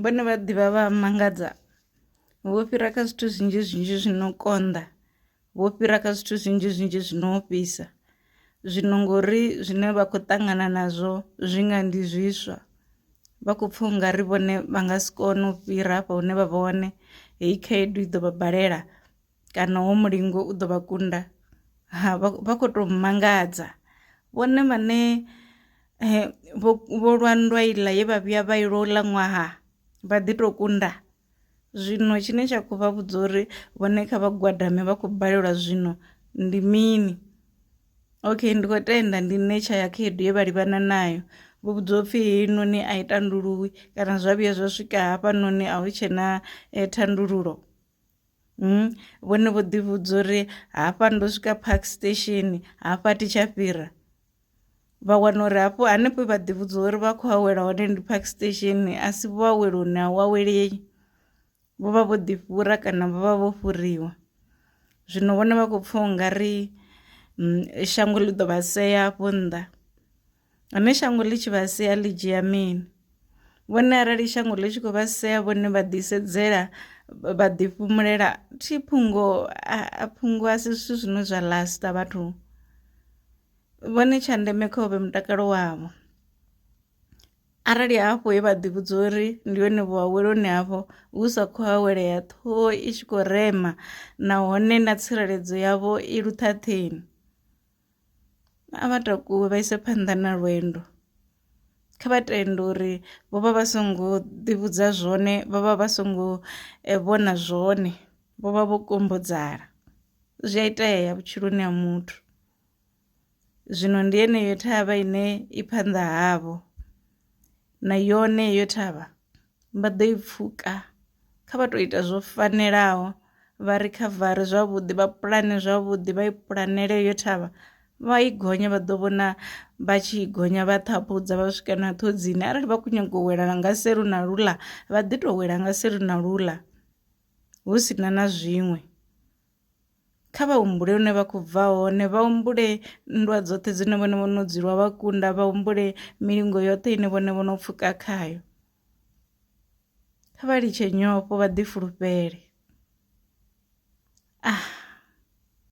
vhone vha ḓivha vha mangadza vho fhira kha zwithu zwinzhi zwinzhi zwi no konḓa vho fhira kha zwithu zwinzhi zwinzhi zwi no fhisa zwino ngori zwine vha khou ṱangana nazwo zwi nga ndi zwiswa vha khou pfha unga ri vhone vha nga si kone u fhira hafha hune vha vha hone heyi khaedu i ḓo vha balela kana wo mulingo u ḓo vha kunda ha vha kho to mangadza vhone vhane eh, vho vho lwa nndwa iḽa ye vha vhuya vha ilo ḽa ṅwaha vha ḓi to kunda zwino tshine tsha khou vha vhudza uri vhone kha vha gwadame vha khou balelwa zwino ndi mini okay ndi khou tenda ndi nṋe tsha ya khaedu ye vha livhana nayo vho vhudzwa upfhi heinoni a i tanduluwi kana zwa vhuya zwa swika hafhanoni a hu tshena eh, thandululo Mm, vhone vho ḓivhudza uri hafha ndo swika park station hafha thi tsha fhira vha wana uri hafho hanefho vha ḓivhudza uri vha khou awela hone ndi park station a si vho awela hune a wawelei vho vha vho ḓifhura kana vho vha vho fhuriwa zwino vhone vha khou pfha u nga ri mm, shango ḽi ḓo vha sea afho nnḓa Hone shango ḽi tshi vha sea ḽi dzhia mini? Vhone arali shango ḽi tshi khou vha sea vhone vha ḓisedzela vha ḓifhumulela thi phungo a phungo a si zwithu zwine zwa lasta vhathu vhone tsha ndeme kha uvhe mutakalo wavho arali hafho he vha ḓi vhudza uri ndi hone vho aweloni hafho hu sa khou awelea ṱhoho i tshi khou rema nahone na tsireledzo yavho i luṱhaṱheni. A vha takuwe vha ise phanḓa na lwendo kha vha tenda uri vho vha vha songo ḓi vhudza zwone vho vha vha songo vhona zwone vho vha vho kombetshedzana zwi a itea vhutshiloni ha muthu zwino ndi yeneyo thavha ine i phanḓa havho na yone heyo thavha. vha ḓo i pfhuka kha vha to ita zwo fanelaho vha ri khavare zwavhuḓi vha pulane zwavhuḓi vha i pulanele yo thavha vha i gonya vha ḓo vhona vha tshi i gonya vha ṱhaphudza vha swika na ṱhodzini arali vha khou nyanga u wela nga selu na luḽa vha ḓi to wela nga selu na luḽa hu si na na zwiṅwe. Kha vha humbule hune vha khou bva hone, vha humbule nndwa dzoṱhe dzine vhone vho no dzi lwa vha kunda, vha humbule milingo yoṱhe ine vhone vho no pfuka khayo. Kha vha litshe nyofho vha ḓifulufhele. Ah.